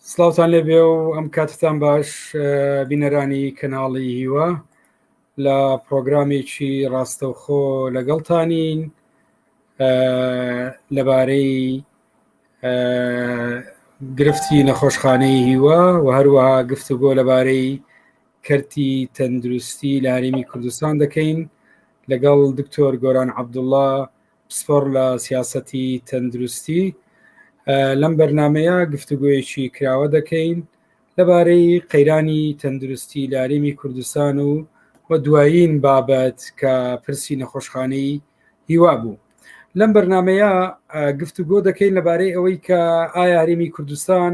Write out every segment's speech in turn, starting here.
سلااوان لێ بێ و ئەم کاتتان باش بینەرانی کەناڵی هیوە لە پرۆگرامێکی ڕاستەوخۆ لەگەڵتانین لەبارەی گرفتی نەخۆشخانەی هیوە و هەروەها گفتوگۆ لەبارەی کەرتی تەندروستی لە هەرێمی کوردستان دەکەین لەگەڵ دکتۆر گۆران عبدوڵا پسپۆڕ لە سیاسەتی تەندروستی لەم بەرنمەیە گفتوگویەکی کراوە دەکەین لەبارەی قەیرانی تەندروستی لە هەرێمی کوردستان و و دوایین بابەت کە پرسی نەخۆشخانەی هیوا بوو لەم بەرنمەیە گفتوگۆ دەکەین لەبارەی ئەوەی کە ئایا هەرێمی کوردستان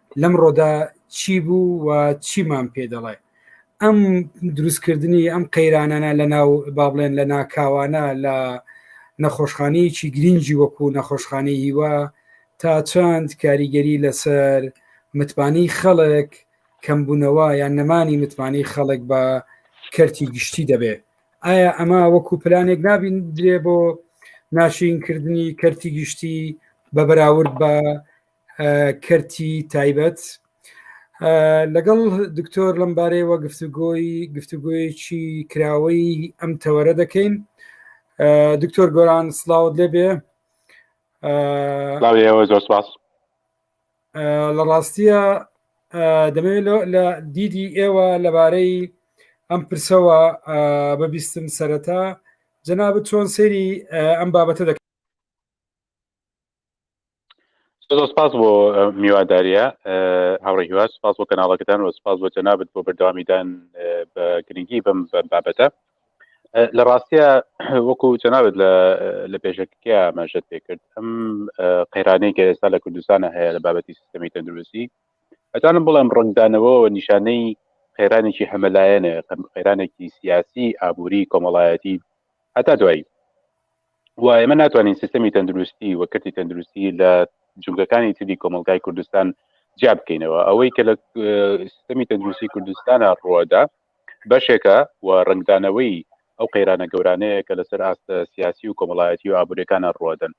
لەم ڕۆدا چی بوو و چیمان پێ دەڵێ ئەم دروستکردنی ئەم قەیرانانە لە ناو با بڵێن لە ناکاوانە لە نەخۆشخانەیەکی گرنگی وەکو نەخۆشخانەی هیوا تا چەند کاریگەری لەسەر متمانی خەڵک کەمبوونەوە یان نەمانی متمانی خەڵک بە کەرتی گشتی دەبێت ئایا ئەمە وەکو پلانێک نابین درێ بۆ ناشینکردنی کەرتی گشتی بە بەراورد بە کەرتی تایبەت لەگەڵ دکتۆر لەمبارەیەوە گفتوگۆی گفتوگوۆیەکی کراوەی ئەم تەوەرە دەکەین دکتۆر گۆران سلااوت لێبێ زۆر سپاس لە ڕاستیە دەمەوێت لە دیدی ئێوە لەبارەی ئەم پرسەوە بەبیستم سەرەتا جەناب چۆن سەیری ئەم بابەتە دەکەن زۆر سپاس بۆ میواداریە هاوڕێ هیوا سپاس بۆ کەناڵەکەتان و سپاس بۆ جەنابەت بۆ بەردەوامیدان بە گرنگی بەم بابەتە لە ڕاستە وەکو جەنابەت لە پێشەکە ئاماژەت پێکرد ئەم قەیرانەی کە ئێستا لە کوردستانە هەیە لە بابەتی سیستەمی تەندروستی ئەتوانم بڵێم ڕنگدانەوەەوە نیشانەی قەیرانێکی هەمەلایەنە قەیرانێکی سیاسی ئابووری کۆمەڵایەتی هەتا دوایی و ئێمە ناتوانین سیستەمی تەندروستی و کەتی تەندروستی لە جونگەکانی تری کۆمەلگای کوردستان جیا بکەینەوە ئەوەی کە لە سیستەمی تەندروستی کوردستانە ڕوەدا بەشێکە و ڕنگدانەوەی ئەو قەیرانە گەورانەیە کە لەسەر ئاستە سیاسی و کۆمەڵایەتی و ئابورەکانە ڕوەدەن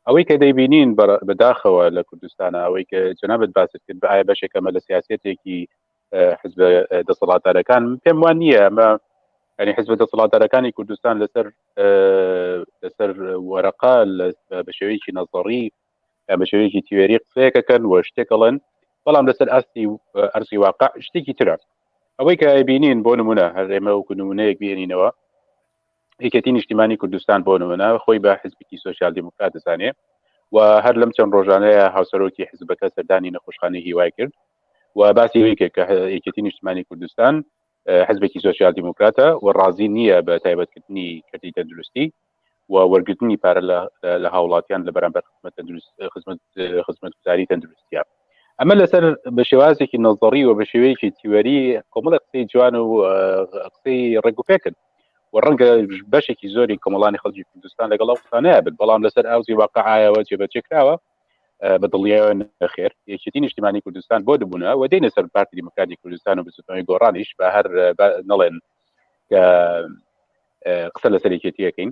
ئەوەی کە دەیبینین بەداخەوە لە کوردستانە ئەوەی کە جەنابەت باست کرد بە ئایا بەشێکەمە لە سیاسەتێکی حزب دەسەڵاتدارەکان پێم وان نییە ئەمە ئەنی حزب دەسەڵاتدارەکانی کوردستان لەسەر لەسەر وەرەقا بە شێوەیەکی نەزەڕی بە شێوەیەکی تیوێری قسەیەکەکەن و شتێکەڵێن بەڵام لەسەر ئاستی ئەرسی واقع شتێکی ترە ئەوەی کە بینین بۆ نمونە هەر ئێمە وکو نمونەیەک بێنینەوە یەکێتی نیشتیمانی کوردستان بۆ نمونە خۆی بە حزبکی سوسیال دیموکرات دەزانێ و هەر لەم چەند ڕۆژانەیە هاوسەرۆکی حزبەکە سەردانی نەخۆشخانەی هیوای کرد و باسی یەکێک کە یەکێتی نیشتمانی کوردستان حزبێکی سوسیال دیموکراتە و ڕازی نییە بە تایبەتکردنی کردی تەندروستی و وەرگرتنی پارە لە هاوڵاتیان لە بەرامبەر خزمەت تەندروست خزمەت خزمەت گوزاری تەندروستیان ئەمە لەسەر بە شێوازێکی نەزەڕی و بە شێوەیەکی تیوەری کۆمەڵە قسەی جوان و قسەی ڕێگوپێکرد و ڕەنگە بەشێکی زۆری کۆمەڵانی خەڵکی کوردستان لەگەڵ ئەو قسانەیە بن بەڵام لەسەر ئاوزی واقعایەوە جێبەجێ کراوە بە دڵنیایەوە نەخێر یەکێتی نیشتیمانی کوردستان بۆ دبوونە و دێنە سەر پارتی دیموکراتی کوردستان و بزوتنەوەی گۆڕانیش بە هەر نەڵێن کە قسە لەسەر یەکێتیەکەین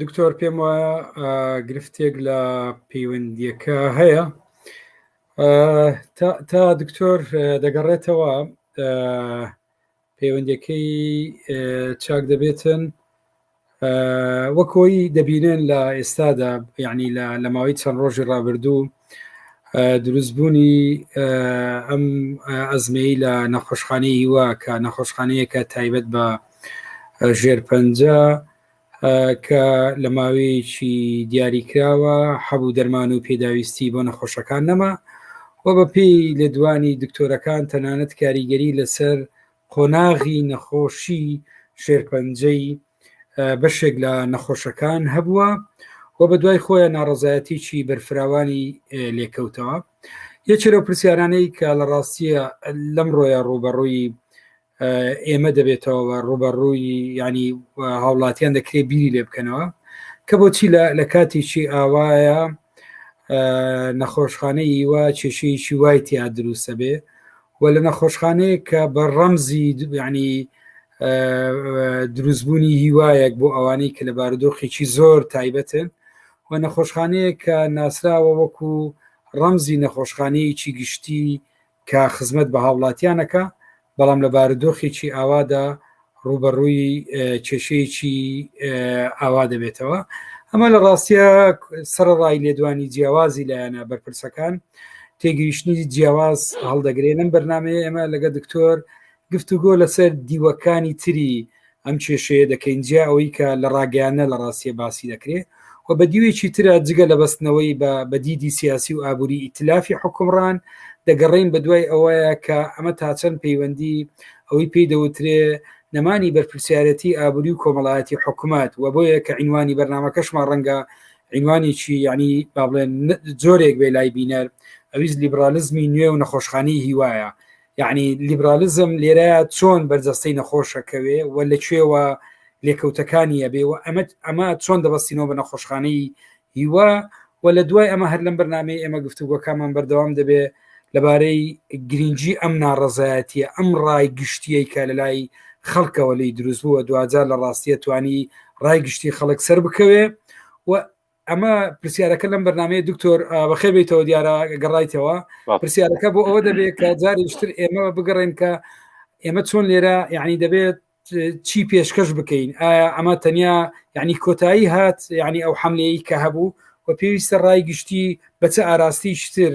دکتۆر پێم وایە گرفتێک لە پەیوەندیەکە هەیە تا دکتۆر دەگەڕێتەوە پەیوەندەکەی چاک دەبێتن وەکۆی دەبینێن لە ئێستادا یعنی لە ماوەی چەند ڕۆژی ڕابردوو دروستبوونی ئەم ئەزمەی لە نەخۆشخانەی هیوا کە نەخۆشخانەیەکە تایبەت بە ژێرپەنجە کە لە ماوەیەکی دیاریکراوە حەبوو دەرمان و پێداویستی بۆ نەخۆشەکان نەما و بە پێی لێدوانی دکتۆرەکان تەنانەت کاریگەری لەسەر قۆناغی نەخۆشی شێرپەنجەی بەشێک لە نەخۆشەکان هەبووە و بە دوای خۆیان ناڕزایەتیی بەرفراوانی لێکەوتەوە یەکێرە پرسیارانەی کە لە ڕاستیە لەم ڕۆیە ڕوبەڕووی ئێمە دەبێتەوە ڕوبەڕووی ینی هاوڵاتیان دەکرێت بیری لێ بکەنەوە کە بۆچی لە کاتێکی ئاوایە نەخۆشخانەی ئیوە کێشەیەکی وای تیا دروستە بێ و لە نەخۆشخانەیە کە بە ڕەمزی ینی دروستبوونی هیوایەک بۆ ئەوانەی کە لە بارودۆخێکی زۆر تایبەتن و نەخۆشخانەیە کە ناسراوە وەکو ڕەمزی نەخۆشخانەیەکی گشتی کە خزمەت بە هاوڵاتیان ئەکا، بەڵام لە بارودۆخێکی ئاوادا ڕووبەڕووی کێشەیەکی ئاوا دەبێتەوە. ئەمە لە ڕاستیە سەرڕای لێدوانی جیاوازی لایەنە بەرپرسەکان تێگەیشتنی جیاواز هەڵدەگرێنم بەرنمەیە ئێمە لەگە دکتۆر گفتوگۆ لەسەر دیوەکانی تری ئەم کێشەیە دەکەین جیا ئەوەی کە لە ڕاگەیانە لە ڕاستیە باسی دەکرێت و بە دیوێکی ترە جگە لە بەستنەوەی بە بەدیدی سیاسی و ئابووری ئیتلافی حکومڕان دەگەڕین بە دوای ئەوەیە کە ئەمە تاچەند پەیوەندی ئەوەی پێی دەوترێ نەمانی بەرپرسیارەتی ئابووری و کۆمەڵایەتی حکوومەت و بۆیە کە عینوانی بەرنمەکەشمان ڕەنگە عینوانێکی یعنی با بڵێن جۆرێک بێ لای بینەر ئەویز لیبرالیزمی نوێ و نەخۆشخانی هیوایە یعنی لیبرالیزم لێرەیە چۆن بەرجەستەی نەخۆشەکەوێ و لە کوێوە لێکەوتەکانی ئەبێ و ئەمە ئەمە چۆن دەبستینەوە بە نەخۆشخانەی هیوا و لە دوای ئەمە هەر لەم بەرنمەی ئێمە گفتوگۆکەمان بەردەوام دەبێ لەبارەی گرنگجی ئەم ناڕزایەتە ئەم ڕای گشتیی کە لە لای خەڵکەوە لی دروست بووە دوجار لە ڕاستیە توانی ڕای گشتی خەڵک سەر بکەوێ و ئەمە پرسیارەکە لەم بەرنمەیە دکتۆر بەخێ بیتەوە دیارە گەڕایتەوە پرسیارەکە بۆ ئەوە دەبێت کە جاریشتر ئێمە بگەڕێن کە ئێمە چۆن لێرە یعنی دەبێت چی پێشکەش بکەین ئایا ئەمە تەنیا یعنی کۆتایی هات یعنی ئەو حملەیە کە هەبوو و پێویستە ڕای گشتی بەچە ئاراستیشتر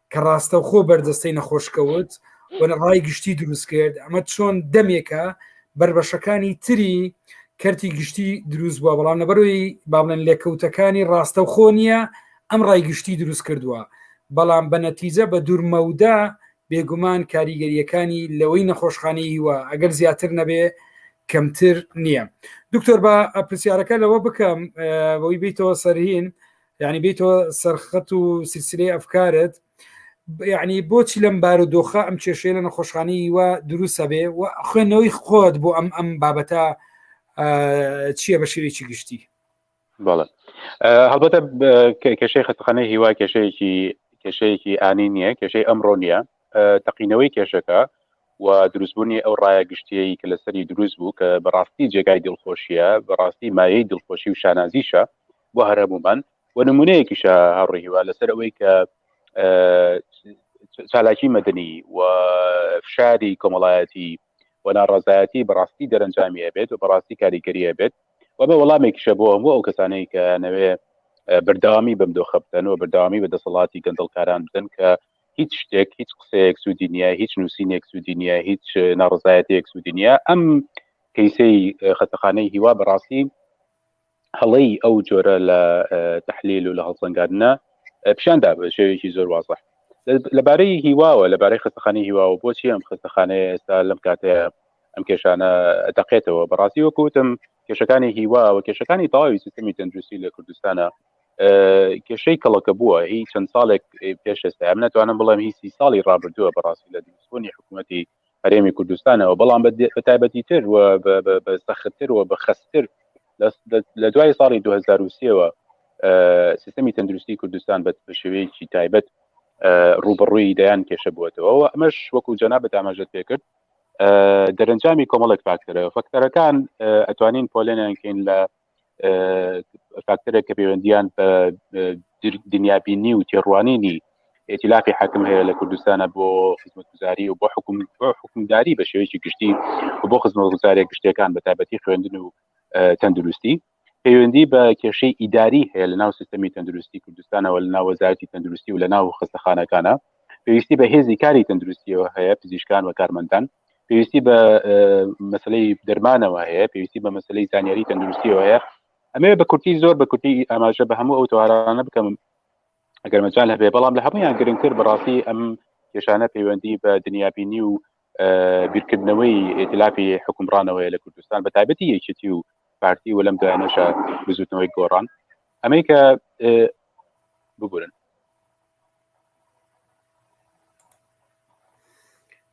کە ڕاستەوخۆ بەرجەستەی نەخۆشکەوت وەە ڕای گشتی دروست کرد ئەمە چۆن دەمێکە بربەشەکانی تری کەرتی گشتی دروست بووە بەڵام لەبەرۆی بابلێن لێکەوتەکانی ڕاستە خۆ نییە ئەم ڕای گشتی دروست کردووە بەڵام بە نەتیجە بە دوورمەودا بێگومان کاریگەریەکانی لەوەی نەخۆشخانەی هیوە ئەگەر زیاتر نەبێ کەمتر نییە دکتۆر بە پرسیارەکە لەوە بکەم بەوەی بیتەوە سەرهین یعنی بیتەوە سەرخەت و سلسلەی ئەفکارت یعنی بۆچی لەم بار و دۆخە ئەم کێشەیە لە نەخۆشخانی وە دروستە بێ و خوێندنەوەی خۆت بۆ ئەم ئەم بابەتە چییە بە شێوێکی گشتی بەڵێ هەڵبەتە کێشەی خەتخانەی هیوا کێشەیەکی کێشەیەکی ئانی نییە کێشەی ئەمڕۆ نییە تەقینەوەی کێشەکە و دروستبوونی ئەو ڕایە گشتیی کە لەسەری دروست بوو کە بەڕاستی جێگای دڵخۆشیە بەڕاستی مایەی دڵخۆشی و شانازیشە بۆ هەرهەبوومان و نمونەیەکیشە هەڕی هیوا لەسەر ئەوەی کە چالاکی مەدنی و فشاری کۆمەڵایەتی و ناڕازایەتی بەڕاستی دەرەنجامیە بێت و بەڕاستی کاریگەریە بێت و بە وەڵامێکیشە بۆ هەموو ئەو کەسانەی کە نەوێ بەرداوامی بەم دۆخە بدەن و بەرداوامی بە دەسەڵاتی گەندڵکاران بدەن کە هیچ شتێک هیچ قسەیەک سوودی نییە هیچ نووسینێک سوودی نییە هیچ ناڕزایەتەیەک سوودی نییە ئەم کەیسەی خەتەخانەی هیوا بەڕاستی هەڵەی ئەو جۆرە لە تحلیل و لە هەڵسەنگاندنا پیشان دا بە شێوێکی زۆر وازە لەبارەی هیواوە لەبارەی خستەخانی هیواوە بۆچی ئەم خستەخانەیە ئێستا لەم کاتەیە ئەم کێشانە دەقێتەوە بەڕاستی وەکوتم کێشەکانی هیوا و کێشەکانی تەواوی سیستمی تەندروستی لە کوردستانە کێشەی کەڵەکە بووە هی چەند ساڵێک پێش ئێستا ئەم ناتوانم بڵێم هی سی ساڵی ڕابردووە بەڕاستی لە دروستبوونی حکوومەتی هەرێمی کوردستانەوە بەڵام بە تایبەتی تر و بە سەختتر و بە خستتر لە دوای ساڵی 2023ەوە سیستمی تەندروستی کوردستان بە شێوەیەکی تایبەت ڕوبڕووی دەیان کێشە بووەتەوە و ئەمەش وەکو جەنا بە تاماژت پێکرد دەرەنجامی کۆمەڵێک فاکتەرە فەکتەرەکان ئەتوانین پۆلێنیان کەین لە فاکتەرێک کە پەیوەندیان بە دنیابینی و تێڕوانینی ئێتیلافی حاکم هەیە لە کوردستانە بۆ خزمەتگوزاری و بۆ حکوم حکومداری بە شێوەیەکی گشتی و بۆ خزمەتگوزارە گشتەکان بە تابەتی خوێندن و تەندروستی پەیوەندی بە کێشەی ئیداری هەیە لە ناو سیستمی تەندروستی کوردستانەوە لە ناوەزارتی تەندروستی و لە ناو خستەخانەکانە پێویستی بە هێزی کاری تەندروستیەوە هەیە پزیشکان و کارمەندان پێویستی بە مەسلەی دەرمانەوە هەیە پێویستی بە مەسلەی زانیاری تەندروستیەوە هەیە ئەمێ بە کورتی زۆر بە کورتی ئاماژە بە هەموو ئەو توارانە بکەم ئەگەر مەجان هەبێ بەڵام لە هەمویان گرنگتر بەڕاستی ئەم کێشانە پەیوەندی بە دنیابینی و بیرکردنەوەی ئێتلافی حکومڕانەوەی لە کوردستان بە تایبەتی یەکێتی و پارتی و لەم دایانەشە بزوتنەوەی گۆڕان ئەمەی کە ببورن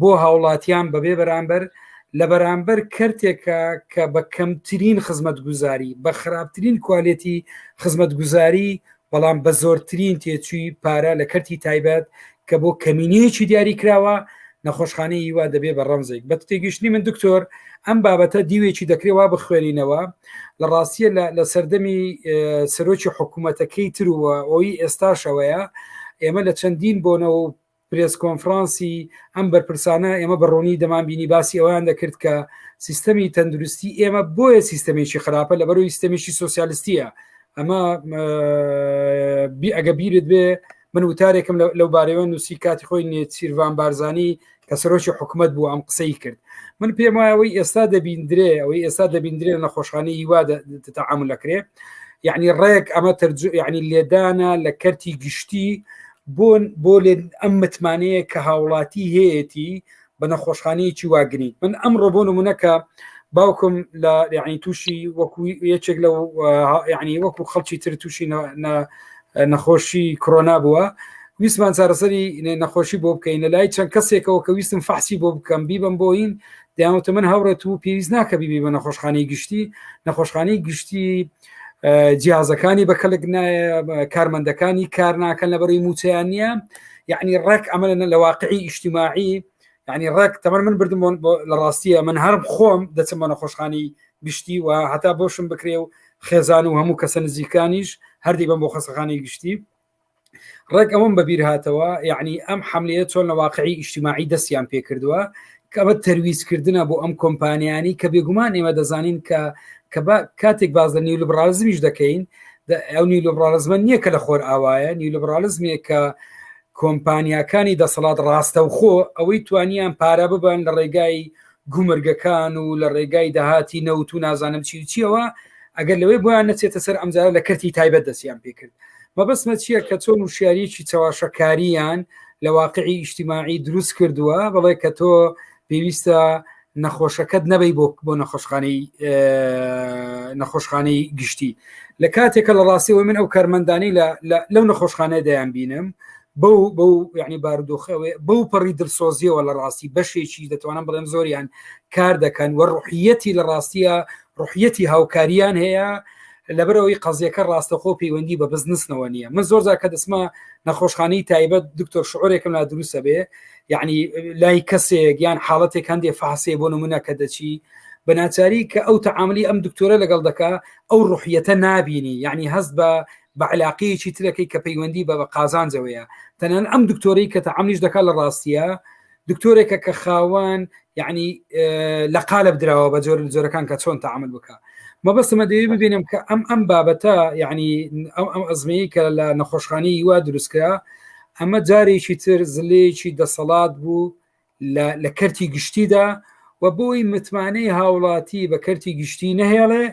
بۆ هاوڵاتیان بەبێ بەرامبەر لە بەرامبەر کەرتێکە کە بە کەمترین خزمەت گوزاری بە خراپترین کوالێتی خزمەت گوزاری بەڵام بە زۆرترین تێچووی پارە لە کەرتی تایبەت کە بۆ کەمینەیەکی دیاری کراوە نەخۆشخانەی هیوا دەبێ بە ڕەمزێک بە تێگەشتنی من دکتۆر ئەم بابەتە دیوێکی دەکرێوا بخوێنینەوە لە ڕاستیە لە سەردەمی سەرۆکی حکوومەتەکەی ترووە ئەوی ئێستاشەوەیە ئێمە لە چەندین بۆنەوە پرێس کۆنفرانسی ئەم بەرپرسانە ئێمە بە ڕوونی دەمان بینی باسی ئەویان دەکرد کە سیستەمی تەندروستی ئێمە بۆیە سیستەمێکی خراپە لە بەرەوەی سیستەمیشی سوسیالستیە ئەمە ئەگە بیرت بێ من وتارێکم لەو بارەوە نووسی کاتی خۆی نێچیرڤان بارزانانی کە سەرۆکی حکوومەت بوو ئەم قسەی کرد من پێم وایەوەی ئێستا دەبیندرێ ئەوەی ئێستا دەبیندرێ لە نەخۆشخانەی هیوا تەعامل لەکرێ یعنی ڕێک ئەمە تەرجو یعنی لێدانە لە کەرتی گشتی بۆن بۆ لێن ئەم متمانەیە کە هاوڵاتی هەیەتی بە نەخۆشخانەیەکی واگرنگ من ئەم ڕۆبۆ نمونونەکە باوکم لە یعنی تووشی وەکو یەکێک لە یعنی وەکو خەڵکی تر تووشی نەخۆشی کۆنا بووە ویسمان چارەسەری نەخۆشی بۆ بکەین لە لای چەند کەسێکەوە کە ویستم فەحسی بۆ بکەم بیبم بۆین داوتە من هاوڕێت و پێویست ناکە بیبی بە نەخۆشخانەی گشتی نەخۆشخانەی گشتی جیازەکانی بە کەلک کارمەندەکانی کار ناکەن لە بەری موچیان نییە یعنی ڕێک ئەمە لە واقعی ئیشتیماعی یعنی ڕێک تەمە من بردم لە ڕاستیە من هەر خۆم دەچم بە نەخۆشخانی گشتی و هەتا بۆشم بکرێ و خێزان و هەموو کەسە نزیکانیش هەردی بەم بۆ خەسەخانی گشتی ڕێک ئەوم بەبییر هاتەوە یعنی ئەم حملەیە چۆن لە واقعی ئیشتیماعی دەستیان پێ کردووە کەمە تەرویزکردنە بۆ ئەم کۆمپانیانی کە بێگومان ئێمە دەزانین کە کە کاتێک باز لە نیو لەبراازمیش دەکەین ئەو نیو لەبراازمە نییە کە لە خۆر ئاوایە نیو لەبراالزمێ کە کۆمپانیاکانی دەسەڵات ڕاستەوخۆ ئەوەی توانیان پارە ببن لە ڕێگای گومرگەکان و لە ڕێگای داهاتی نەوت و نازانم چی و چیەوە ئەگەر لەوەی بۆیان نەچێتە سەر ئەمجارە لە کەرتی تایبەت دەستیان پێکرد مەبەستمە چییە کە چۆن و شاریەکی چاواشەکاریان لە واقعی ئیشتیماعی دروست کردووە بەڵێ کە تۆ پێویستە نەخۆشەکەت نەبی بۆ بۆ نەخۆشخانەی نەخۆشخانەی گشتی لە کاتێکە لە ڕاستیەوەی من ئەو کارمەندانی لەو نەخۆشخانە دەیان بینم بەو بەو یعنی بارودۆخەوەی بەو پەڕی دلسۆزیەوە لە ڕاستی بەشێکی دەتوانم بڵێم زۆریان کار دەکەن وە ڕحیەتی لە ڕاستیە ڕحیەتی هاوکاریان هەیە لەبەرەوەی قەزیەکە ڕاستەخۆ پەیوەندی بە بزنسنەوە نییە من زۆر زاکە دەسمە نەخۆشخانەی تایبەت دکتۆر شعورێکم لا دروستە بێ یعنی لای کەسێک یان حاڵەتێک هەندێ فاسێ بۆ نمونە کە دەچی بەناچاری کە ئەو تعاملی ئەم دکتۆرە لەگەڵ دەکا ئەو ڕحیەتە نبینی یعنی هەست بە بە علاقەیەکی ترەکەی کە پەیوەندی بە بە قازانجەوەیە تەنان ئەم دکتۆری کە تەعاملیش دەکات لە ڕاستیە دکتۆرێکە کە خاوەن یعنی لە قالب دراوە بە جۆر جۆرەکان کە چۆن تعامل بکە مەبەستمە دەوێت ببینم کە ئەم ئەم بابەتە یعنی ئەم ئەم ئەزمەیە کە لە نەخۆشخانی وا دروستکرا ئەمە جارێکی تر زلەیەکی دەسەڵات بوو لە کەرتی گشتیدا و بۆی متمانەی هاوڵاتی بە کەرتی گشتی نەهێڵێ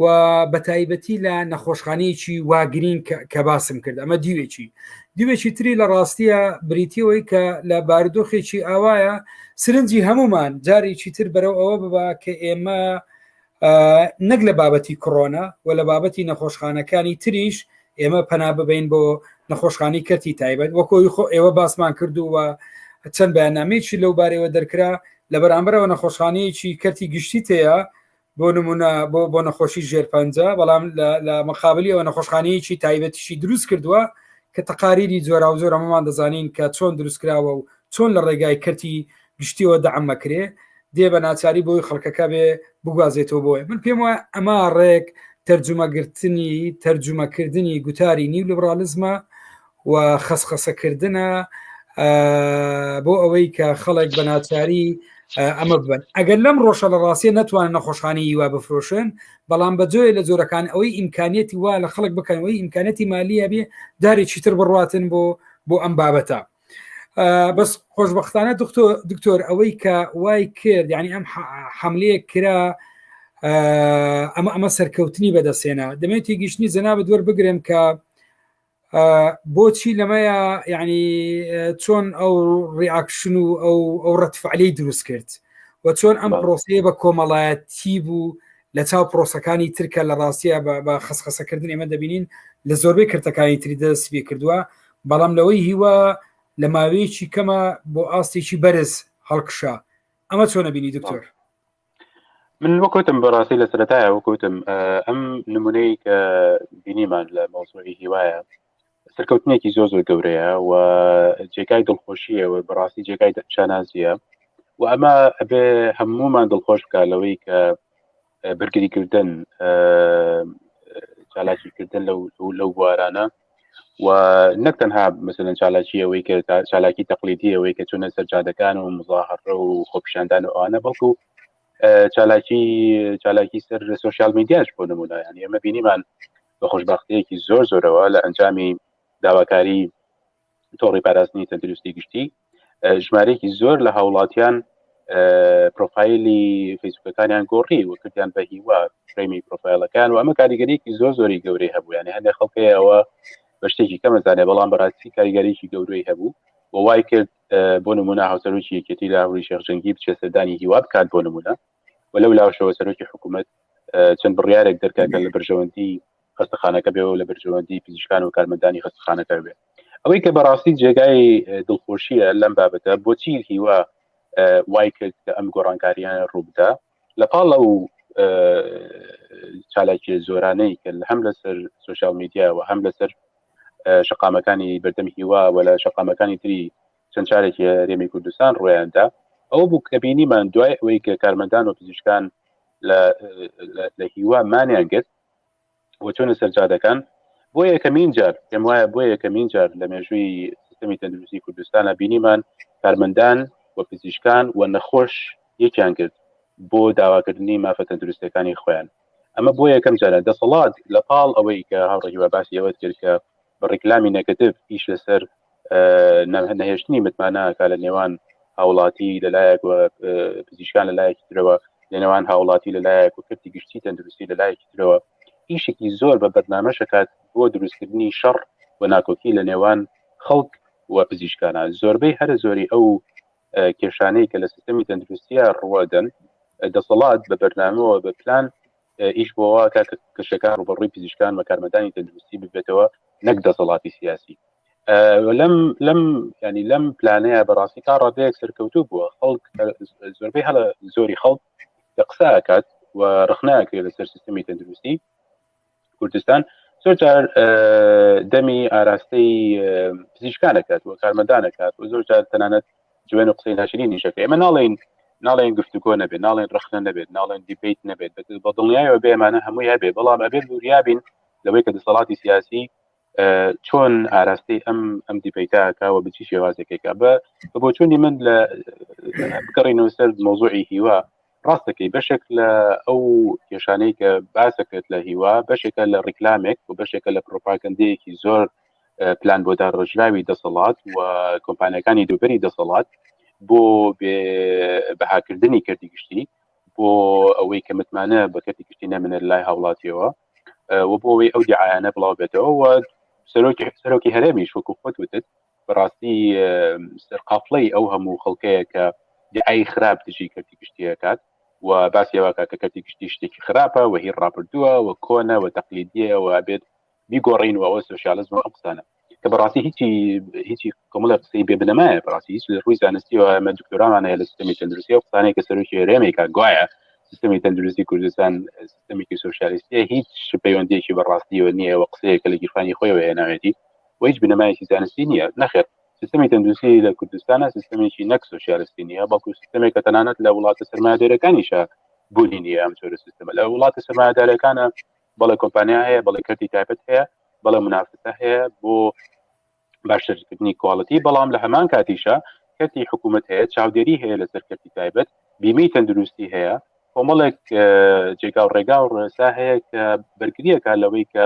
و بە تایبەتی لە نەخۆشخانەیەکی واگرین کە باسم کرد ئەمە دیوێکی دیوێکی تری لە ڕاستیە بریتیەوەی کە لە باردۆخێکی ئاوایە سرنجی هەمومان جارێکی تر بەرەو ئەوە ببا کە ئێمە نەک لە بابەتی کڕۆنا و لە بابەتی نەخۆشخانەکانی تریش ئێمە پەنا ببین بۆ نەخۆشخانی کەرتی تایبەت وەکۆی خۆ ئێوە باسمان کردو و چەند بەیانامێکی لەو بارەوە دەرکرا لە بەرامبەرەوە نەخۆشخانەیەکی کەرتی گشتی تەیە بۆ نمونە بۆ بۆ نەخۆشی ژێر پەنج بەڵام لە مەقابلی ئەوە نەخۆشخانەیەکی تایبەتیشی دروست کردووە کە تەقاریری جۆرا و زۆرەمەمان دەزانین کە چۆن دروستکراوە و چۆن لە ڕێگای کەرتی گشتیەوە دەعم مەکرێ دێ بە ناچاری بۆی خەڵکەکە بێ بگوازێتەوە بۆیە من پێم وایە ئەما ڕێک تەرجومەگرتنی تەرجومەکردنی گوتاری نیو لبرالیزمە و خەسخەسەکردە بۆ ئەوەی کە خەڵک بە ناچاری ئەمە بن ئەگەر لەم ڕۆژە لە ڕاستیە نتوانن نەخۆشخانی یوا بفرۆشن بەڵام بە جۆێ لە جۆرەکان ئەوەی ئیمکانیەتی وا لە خەڵک بکەنەوەی ئیمکانەتی مالیە بێ دارێکی تر بڕاتن بۆ بۆ ئەم بابەتە بەس خۆشببختانە دکتۆر ئەوەی کە وای کرد ینی ئەم حملەیە کرا ئەمە ئەمە سەرکەوتنی بەدەستێنە دەمێت تێگەیشتنی جەنابەت دوەر بگرم کە بۆچی لەمەیە ینی چۆن ئەو ڕیاکشن و ئەو ئەو ڕەتفعلی دروست کرد و چۆن ئەم پرۆسەیە بە کۆمەڵایەتی بوو لە چاو پرۆسەکانی ترکە لە ڕاستیە بە خسخەسەکردن ئێمە دەبینین لە زۆربەی کرتەکانی تری دەستی کردووە بەڵام لەوەی هیوا لە ماوەیەکی کەمە بۆ ئاستێکی بەرز هەڵکشا ئەمە چۆنە بینی دکتۆر من وەکوتم بەڕاستی لە سەرەتایە وەکوتم ئەم نمونەی کە بینیمان لە مەوسوعی هیوایە سەرکەوتنێکی زۆ زۆر گەورەیە و جێگای دڵخۆشیەوە بەڕاستی جێگای شانازیە و ئەمە ئەبێ هەمومان دڵخۆش بکە لەوەی کە بەرگریکردن چالاکیکردن لەو بوارانە و نەک تەنها مثلەن چالاکی ئەوەی کە چالاکی تەقلیدی ئەوەی کە چونە سەرجادەکان و مزاهڕە و خۆپیشاندان و ئەوانە بەڵکو چالاکی چالاکی سەر سوسیال میدیاش بۆ نمونە ینی ئەمە بینیمان بە خۆشببختەیەکی زۆر زۆرەوە لە ئەنجامی داواکاری تۆڕی پاراستنی تەندروستی گشتی ژمارەیەکی زۆر لە هاوڵاتیان پرۆفایلی فیسبوکەکانیان گۆڕی و کردیان بە هیوا فرەیمی پرۆفایلەکان و ئەمە کاریگەریکی زۆر زۆری گەورەی هەبوو یانە هەندێک خەڵکەیەوە بە شتێکی کەمەزانێ بەڵام بەڕاستی کاریگەریکی گەورەی هەبوو و وای کرد بۆ نمونە هاوسەرۆکی یەکێتی لە هەوری شێخجەنگی بچێ سەردانی هیوا بکات بۆ نمونە و لەو لاوشەوە سەرۆکی حکوومەت چەند بڕیارێک دەرکاکە لە بەرژەوەندی خەستەخانەکە بێ و لە بەرژەوەندی پزیشکان و کارمەندانی خەستەخانەکە بێ ئەوەی کە بەڕاستی جێگای دڵخۆشیە لەم بابەتە بۆچی هیوا وای کرد کە ئەم گۆڕانکاریانە ڕووبدا لە پاڵ ئەو چالاکی زۆرانەی کە هەم لەسەر سوسیال میدیا و هەم لەسەر شقامەکانی بەردەم هیوا و لە شقامەکانی تری چەند چارێکی رێمی کوردستان ڕۆیاندا ئەو بوو کە بینیمان دوای ئەوەی کە کارمەندان و پزیشکان لە هیوا مانیان گرت بۆ چوونە سەر جادەکان بۆ یەکەمین جار پێم وایە بۆ یەکەمین جار لە مێژووی سیستمی تەندروستی کوردستانە بینیمان کارمەندان و پزیشکان و نەخۆش یەکیان کرد بۆ داواکردنی مافە تەندروستەکانی خۆیان ئەمە بۆ یەکەم جارە دەسەڵات لە پاڵ ئەوەی کە هاوڕێکی باسی ئەوەت کرد کە بە ڕیکلامی نەگەتیڤ ئیش لەسەر نەهێشتنی متمانەکە لە نێوان هاوڵاتی لەلایەک پزیشکان لەلایەکی ترەوە لە نێوان هاوڵاتی لەلایەک و کردی گشتی تەندروستی لەلایەکی ترەوە ئیشێکی زۆر بە بەرنامە شکات بۆ دروستکردنی شەڕ و ناکۆکی لە نێوان خەڵک و پزیشکانە زۆربەی هەرە زۆری ئەو کێشانەی کە لە سیستمی تەندروستیە ڕوەدەن دەسەڵات بە بەرنامەوە بە پلان ئیش بۆوا کە کەشەکان ڕوبەڕووی پزیشکان و کارمەدانی تەندروستی ببێتەوە نەک دەسەڵاتی سیاسی لەم لەم ینی لەم پلانەیە بەڕاستی تا ڕادەیەک سەرکەوتوو بووە خەڵک زۆربەی هەڵە زۆری خەڵک لە قساکات و ڕخناکرێت لەسەر سیستمی تەندروستی کوردستان زۆر جار دەمی ئاراستەی پزیشکانەکات و کارمەدانەکات و زۆر جار تەنانەت جوێن و قسەی ناشرین نیشەکە ئێمە ناڵێن ناڵێن گفتوگۆ نەبێت ناڵێن رخنە نەبێت ناڵێن دیبیت نەبێت بە دڵنیایەوە بێمانە هەمووی هەبێ بەڵام ئەبێت وریابین لەوەی کە دەسەڵاتی سیاسی چۆن ئاراستەی ئەم ئەم دیپیتاکەوە بچی شێوازێکێکە بە بۆچوونی من لە بگەڕینەوە سەر مۆزوعی هیوا ڕاست دەکەی بەشێک لە ئەو کێشانەی کە باسەکرێت لە هیوا بەشێکە لە ڕیکلامێک و بەشێکە لە پرۆپاگەندەیەکی زۆر پلان بۆ داڕژراوی دەسەڵات و کۆمپانیەکانی دووبەری دەسەڵات بۆ بەهاکردنی کردی گشتی بۆ ئەوەی کە متمانە بە کەتی گشتی نەمنە لای هاوڵاتیەوە و بۆ ئەوەی ئەو دیعاانە بڵاو بێتەوە سەرۆکی سەرۆکی هەرێمی شوکو خۆت وتت بەڕاستی سەرقافڵەی ئەو هەموو خەڵکەیە کە دعای خراپ دژی کەرتی گشتیەکات و باسی واکە کە کەتی گشتی شتێکی خراپە و هی ڕابردووە و کۆنە و تەقلیدیە و بێت بیگۆڕین و ئەوە سوسیالزم ئەو قسانە کە بەڕاستی هیچی هیچی کۆمەڵە قسەی بێ بنەمایە بەڕاستی هیچ ڕووی زانستی و ئەمە دکتۆرانانەیە لە سیستمی تەندروستی و قسانەیە کە سەرۆکی هەرێمێکا گوایە سیستمی تەندروستی کوردستان سیستمێکی سوسیالیستیە هیچ پەیوەندێکی بەڕاستیەوە نییە و قسەیە کە لە گیرفانی خۆیەوە هێناوێتی و هیچ بنەمایەکی زانستی نییە نەخێر سیستمی تەندروستی لە کوردستانە سیستمێکی نەک سوسیالستی نیە بەڵکو سیستمێک کە تەنانەت لە وڵاتە سرمایهدێرەکانیشە بوونی نیە ئەم جۆرە سیستمە لە وڵاتە سرمایهدارەکانە بەڵێ کۆمپانیا هەیە بەڵێ کردی تایبەت هەیە بەڵێ منافسە هەیە بۆ باشترکردنی کوالڵەتی بەڵام لە هەمان کاتیشە کەتی حکوومەت هەیە چاودێری هەیە لە سەرکەتی تایبەت بیمەی تەندروستی هەیە کۆمەڵێک جێگا و ڕێگا و ڕێسا هەیە کە بەرگریەکە لەوەی کە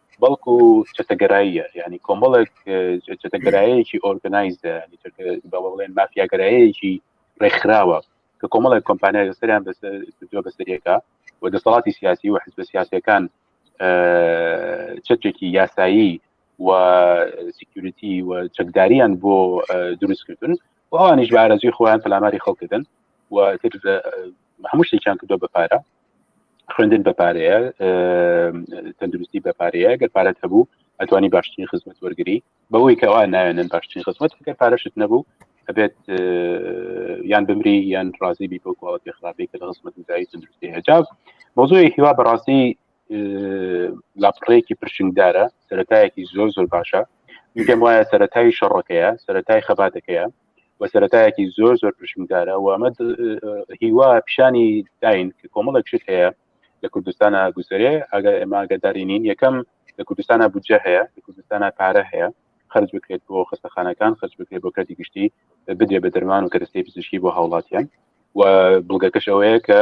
بەڵکو چەتەگەراییە ینی کۆمەڵێک چەتەگەرایەکی ئۆرگنایزە بەڵێن مافیاگەرایەکی ڕێکخراوە کە کۆمەڵێک کۆمپانیا لەسەریان بەسەر بەسەریەکە و دەسەڵاتی سیاسی و حزب سیاسەکان چەکێکی یاسایی و سیکیورتی و چەکداریان بۆ دروستکردن و ئەوانیش بارەزوی خۆیان پەلاماری خەڵکردن و هەموو شتێکیان کردو بە پارە خوێندن بە پارەیە تەندروستی بە پارەیە گەر پارەت هەبوو ئەتوانی باشترین خزمەت وەرگری بەوەی کەوا ناوێنن باشترین خزمەت گەر پارەشت نەبوو ئەبێت یان بمری یان ڕازی بی بۆ کوواڵەتی خراپی کە لە خزمەت دای تەندروستی هەجاب مۆزۆی هیوا بەڕاستی لاپڕەیەکی پرشنگدارە سەتایەکی زۆر زۆر باشە میگەم وایە سەتای شەڕەکەیە سەتای خەباتەکەیە و سەتایەکی زۆر زۆر پرشمکارە و ئەمە هیوا پیشانی داین کە کۆمەڵک شت هەیە لە کوردستانە گوزەرێ ئەگەر ئێمە گەداری نین یەکەم لە کوردستانە بودجە هەیە لە کوردستانە پارە هەیە خرج بکرێت بۆ خستەخانەکان خرج بکرێت بۆ کەتی گشتی بدرێ بە دەرمان و کەرستی پزیشکی بۆ هاوڵاتیان و بڵگەکەش ئەوەیە کە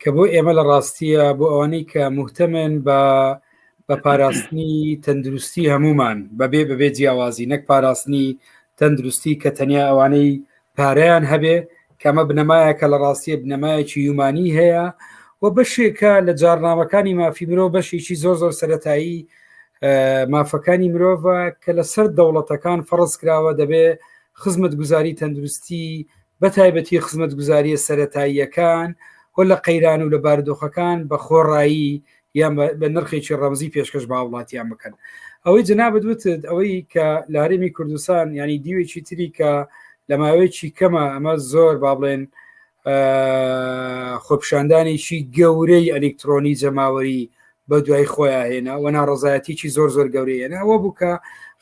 کە بۆ ئێمە لە ڕاستیە بۆ ئەوانەی کە مهتەمێن بە بە پاراستنی تەندروستی هەمومان بەبێ بەبێ جیاوازی نەک پاراستنی تەندروستی کە تەنیا ئەوانەی پارەیان هەبێ کەمە بنەمایە کە لە ڕاستیە بنەمایەکی یومانی هەیە و بەشێکە لە جارنامەکانی مافی مرۆ بەشێکی زۆر زۆر سەتایی مافەکانی مرۆڤە کە لەسەر دەوڵەتەکان فەڕست کراوە دەبێ خزمەت گوزاری تەندروستی بە تایبەتی خزمەتگوزارییە سەرەتاییەکان و لە قەیران و لە بارودۆخەکان بە خۆڕایی یان بە نرخێکی ڕەمزی پێشکەش بە هاوڵاتیان بکەن ئەوەی جەنابەت وتت ئەوەی کە لە هەرێمی کوردستان ینی دیوێکی تری کە لە ماوەیەکی کەمە ئەمە زۆر با بڵێن خۆپشاندانێکی گەورەی ئەلکترۆنی جەماوەری بە دوای خۆیان هێنا و ناڕزایەتیی زۆر زۆر گەورەی هێنا ئەوە بوو کە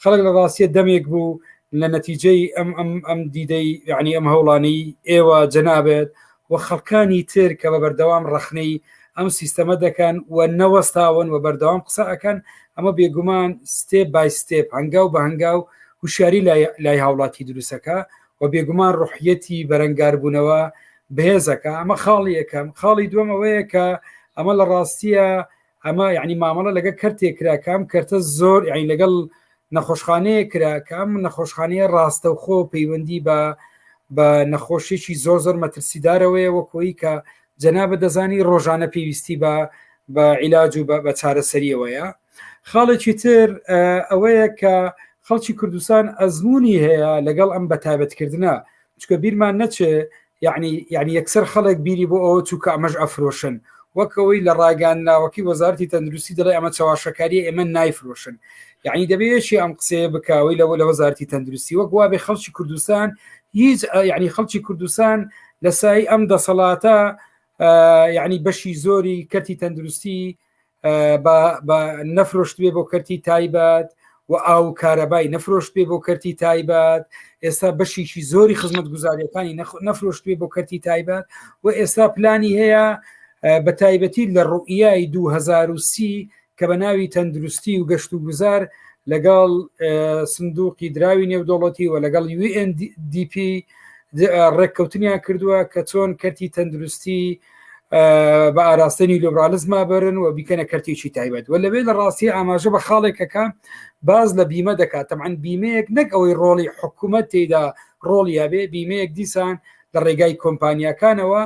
خەڵک لە ڕاستیە دەمێک بوو لە نەتیجەی ئەم ئەم ئەم دیدەی یعنی ئەم هەوڵانی ئێوە جەنابێت و خەڵکانی تر کە بە بەردەوام ڕەخنەی ئەم سیستەمە دەکەن و نەوەستاون و بەردەوام قسە ئەەکەن ئەمە بێگومان ستێپ بای ستێپ هەنگاو بە هەنگاو هوشاری لای هاوڵاتی دروستەکە و بێگومان ڕوحیەتی بەرەنگاربوونەوە بەهێزەکە ئەمە خاڵی یەکەم خاڵی دووەم ئەوەیە کە ئەمە لە ڕاستیە ئەمە یعنی مامەڵە لەگە کەرتێک کراکەم کەرتە زۆر یعنی لەگەڵ نەخۆشخانەیە کرا کە ئەم نەخۆشخانەیە ڕاستەوخۆ پەیوەندی بە بە نەخۆشیێکی زۆر زۆر مەترسیدارەوەیە وەکۆی کە جەنابە دەزانی ڕۆژانە پێویستی بە بە عیلاج و بە چارەسەریەوەیە خاڵێکی تر ئەوەیە کە خەڵکی کوردستان ئەزمموی هەیە لەگەڵ ئەم بەتابەتکردە چکە بیرمان نەچێ یعنی یعنی یەکسەر خەڵک بیری بۆ ئەوە چووکە ئەمەش ئەفرۆشن وەکەوەی لە ڕاگەان ناوەکی وەزارتی تەندروستی دەڵێ ئەمە چاواشەکاری ئێمە نایفرۆشن یعنی دەبێشی ئەم قسەیە بکەوەی لەوە لە وەزارتی تەندروستی وەک وابێ خەڵکی کوردستان هیچ یعنی خەڵکی کوردستان لە سای ئەم دەسەڵاتە یعنی بەشی زۆری کەتی تەندروستی بە نەفرۆشت بێ بۆ کەرتی تایبەت و ئاو کارەبای نەفرۆشت بێ بۆ کەرتی تایبەت ئێستا بەشیشی زۆری خزمەت گوزاریەکانی نەفرۆشت بێ بۆ کەرتی تایبەت و ئێستا پلانی هەیە بە تایبەتی لە ڕوئیای 2030 کە بە ناوی تەندروستی و گەشت و گوزار لەگەڵ سندوقی دراوی نێودۆڵەتی و لەگەڵ UNDP ڕێککەوتنیان کردووە کە چۆن کەرتی تەندروستی بە ئاراستەنی لیبرالیزما بەرن و بیکەنە کەرتێکی تایبەت و لەوێ لە ڕاستی ئاماژە بە خاڵێکەکە باز لە بیمە دەکات تەمان بیمەیەک نەک ئەوەی ڕۆڵی حکوومەت تێدا ڕۆڵی یاێ بیمەیەک دیسان لە ڕێگای کۆمپانیەکانەوە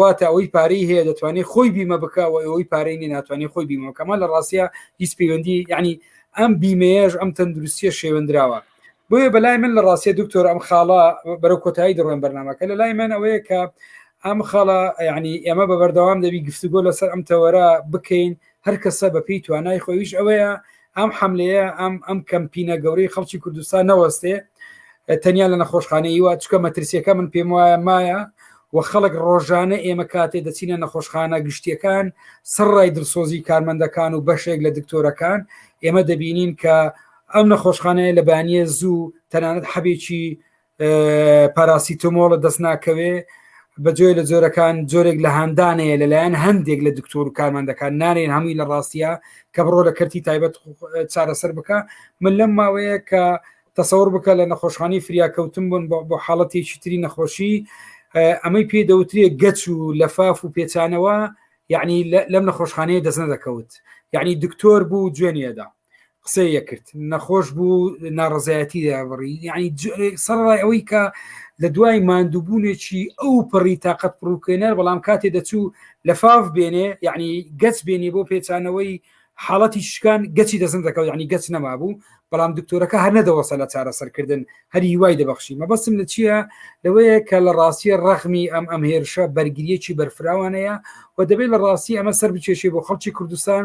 واتە ئەوەی پارەی هەیە دەتوانێت خۆی بیمە بکەوە ئەوەی پارەی نی ناتوانێت خۆی بیمەکەمان لە ڕاستە هیچ پەیوەندی ینی ئەم بیمەیەش ئەم تەندروستیە شێوەندراوە بۆیە بەلای من لە ڕاستێ دکتۆر ئەم خاڵە بەرەو کۆتایی دەڕۆن بەرنمەکە لە لای من ئەوەیە کە ئەم خاڵە ینی ئێمە بە بەردەوام دەبی گفتوگۆ لەسەر ئەم تەوەرە بکەین هەر کەسە بەپی توانای خۆیش ئەوەیە ئەم حملەیە ئەم ئەم کەمپینە گەورەی خەڵکی کوردستان نەوەستێ تەنیا لە نەخۆشخانەی وە چکە مەترسیەکە من پێم وایە مایە و خەڵک ڕۆژانە ئێمە کاتێ دەچینە نەخۆشخانە گشتیەکان سڕای دڵسۆزی کارمەندەکان و بەشێک لە دکتۆرەکان ئێمە دەبینین کە ئەم نەخۆشخانەیە لە بانیە زوو تەنانەت حەبێکی پاراسیتۆمۆڵە دەست ناکەوێ بە جۆێ لە جۆرەکان جۆرێک لە هاندانەیە لەلایەن هەندێک لە دکتۆر و کارمان دەکات نانێن هەمووی لە ڕاستە کە بڕۆ لە کەرتی تایبەت چارەسەر بکە من لەم ماوەیە کە تەسەور بکە لە نەخۆشخانی فریاکەوتن بوون بۆ حاڵەتێکی تری نەخۆشی ئەمەی پێ دەوترێ گەچ و لەفاف و پێچانەوە یعنی لەم نەخۆشخانەیە دەست نەدەکەوت یعنی دکتۆر بوو جوێنیەدا قسەی یەکرد نەخۆش بوو ناڕزایەتی دابڕی یعنی سەرڕای ئەوەی کە لە دوای مادووبوونێکی ئەو پڕی تااقەت پڕوکێنەر بەڵام کاتێ دەچوو لە فاف بێنێ یعنی گەچ بێنی بۆ پێچانەوەی حاڵەتی شکان گەچی دەزن دەکەوت ینی گەچ نەما بوو بەڵام دکتۆرەکە هەر نەدەوەسە لە چارەسەرکردن هەری وای دەبخشی مەبەستم لە چییە لەوەیە کە لە ڕاستیە ڕەخمی ئەم ئەم هێرشە بەرگریەکی بەرفراوانەیە و دەبێت لە ڕاستی ئەمە سەر بچێشێ بۆ خەڵکی کوردستان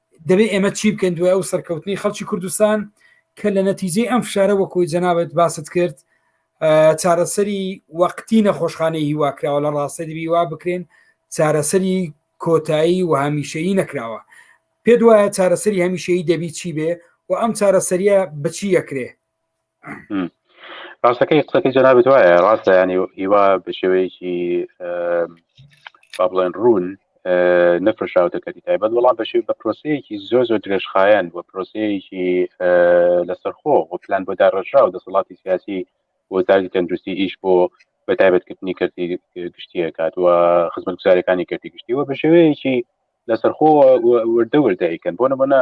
دەبێت ئێمە چی بکەین دوای ئەو سەرکەوتنی خەڵکی کوردستان کە لە نەتیجەی ئەم فشارە وەکوی جەنابەت باست کرد چارەسەری وەقتی نەخۆشخانەی هیواکراوە لە ڕاستەری هیوا بکرێن چارەسەری کۆتایی و هەمیشەیی نەکراوە پێ دوایە چارەسەری هەمیشەیی دەبی چی بێ و ئەم چارەسەریە بچی یەکرێ ڕاستەکەی قسەکەی جەنابێت وایە ڕاستە ینی هیوا بە شێوەیەکی با بڵێن ڕوون نەفرشاوتە کەتی تایبەت وەڵام بەشی بە پرۆسەیەکی زۆر زۆر درێژخایەن و پرۆسەیەکی لەسەرخۆ و پلان بۆ داڕژا و دەسەڵاتی سیاسی وەزاری تەندروستی ئیش بۆ بە تایبەتکردنی کردی گشتیە کات و خزمەت گوزارەکانی کردی گشتی و بە شێوەیەکی لەسەرخۆ وردە وردەیکەن بۆ نمونە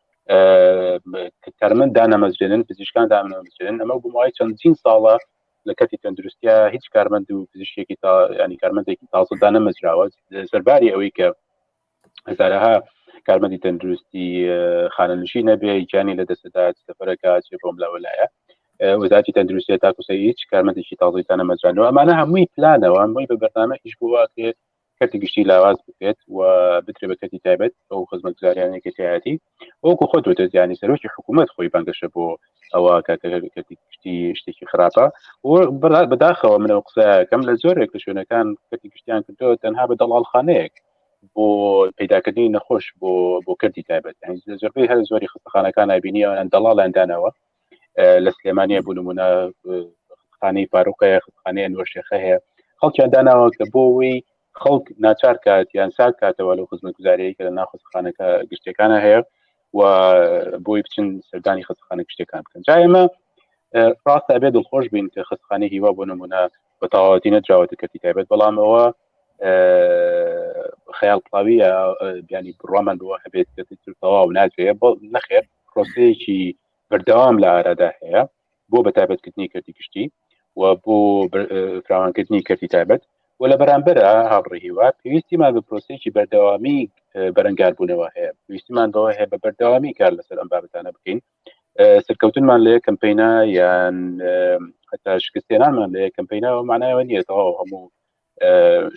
تەرمەن دانەمەزرێنن پزیشکان دامەزرێن ئەمە گومای چەندین ساڵە لە کەتی تەندروستیا هیچ کارمەند و پزیشتێکی تا ینی کارمەندێکی تازە دانەمەزراوە سەرباری ئەوەی کە هزارها کارمەندی تەندروستی خانەنشی نەبێ گیانی لە دەستدا سەفەرەکە چێ بۆم لەوەلایە وەزاتی تەندروستی تاکوسە هیچ کارمەندێکی تازەی دانەمەزرانەوە ئەمانە هەمووی پلانەوە هەمووی بە بەرنامە هیچ بووە کرێت کەرتی گشتی لاواز بکرێت و بکرێت بە کەرتی تایبەت ئەو خزمەتگوزاریانە کەتیایەتی وەکو خۆ دەوتێت ینی سەرۆکی حکوومەت خۆی بانگەشە بۆ ئەوە کەرتی گشتی شتێکی خراپە و بەداخەوە منەوە قسەکەم لە زۆرێک لە شوێنەکان کەتی گشتیان کردو تەنها بە دەڵالخانەیەک بۆ پیداکردنی نەخۆش بۆ بۆ کردی تایبەت زۆربەی هەر زۆری خستەخانەکان نبینی ئەوان دەڵاڵیاندانەوە لە سلێمانە بوو نمونە خانەی فاروقەیە خانەیە نوۆشێخە هەیە خەڵکیان داناوە کە بۆەوەی خەڵک ناچار کات یان ساک کاتەوە لە خزمەت گوزارەیە کە لە ناخستخانەکە گشتەکانە هەیە و بۆی بچن سەردانی خستخانە گشتەکان بکەن جا ئێمە ڕاست ئەبێ دڵخۆش بین کە خستخانە هیوا بۆ نمونە بە تەواوەتی نەدراوەتە کەتی تایبەت بەڵام ئەوە خەیاڵ پڵاویە بیانی بڕوامان بەوە هەبێت کە تەواو ناکرێت بۆ نەخێت پرۆسەیەکی بەردەوام لە ئارادا هەیە بۆ بە تایبەتکردنی کردی گشتی و بۆ فراوانکردنی کردی تایبەت و لە بەرامبەر هاوڕێ هیوا پێویستیمان بە پرۆسێکی بەردەوامی بەرەنگاربوونەوە هەیە پێویستیمان بەوە هەیە بە بەردەوامی کار لەسەر ئەم بابەتانە بکەین سەرکەوتنمان لە یەکەم پینا یان هەتا شکستێنانمان لە یەکەم پیناەوە معناەوە نیە تەواو هەموو